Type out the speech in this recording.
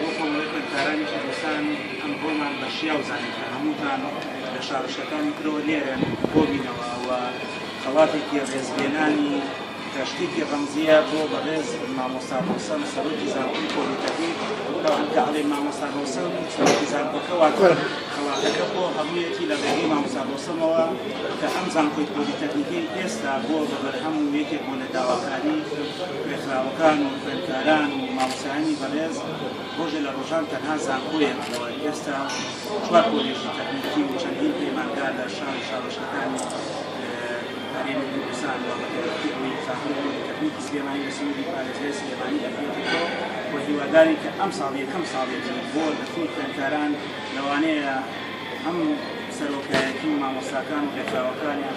بۆ کۆمەڵەی خوێندکارانی کوردستان ئەمڕۆمان بە شیاو زانی کە هەمووتان لە شارۆچکەکانی ترەوە لێرەن کۆبینەوە و خەڵاتێکی ڕێزلێنانی کە شتێکی ڕەمزییە بۆ بەڕێز مامۆستا ڕەوسەن سەرۆکی زانکۆی پۆلیتەکنیک بەڵام کە ئەڵێ مامۆستا ڕەوسەن سەرۆکی زانکۆکە واتە خەڵاتەکە بۆ هەموویەتی لە ڕێگەی مامۆستا ڕەوسەنەوە کە ئەم زانکۆی پۆلیتەکنیکەی ئێستا بۆ بە بەرهەم و یەکێک بۆ لە داواکاری خوێندکراوەکان و خوێندکاران و مامۆستایانی بەڕێز، ڕۆژێ لە ڕۆژان تەنها زانکۆیەک بووە، ئێستا چوار کۆلێژی تەکنیکی و چەندین پەیمانگا لە شار و شارۆچکەکانی هەرێمی کوردستان و بەتایبەتی ئەوەی خاتوو پۆلیتەکنیکی سلێمانی لە سنووری پارێزگای سلێمانی دەگرێتەوە و هیوادارین کە ئەمساڵ یەکەم ساڵێتی بۆ دەرچووی خوێندکاران لەوانەیە هەم سەرۆکایەتی و مامۆستاکان و ڕێکخراوەکانیان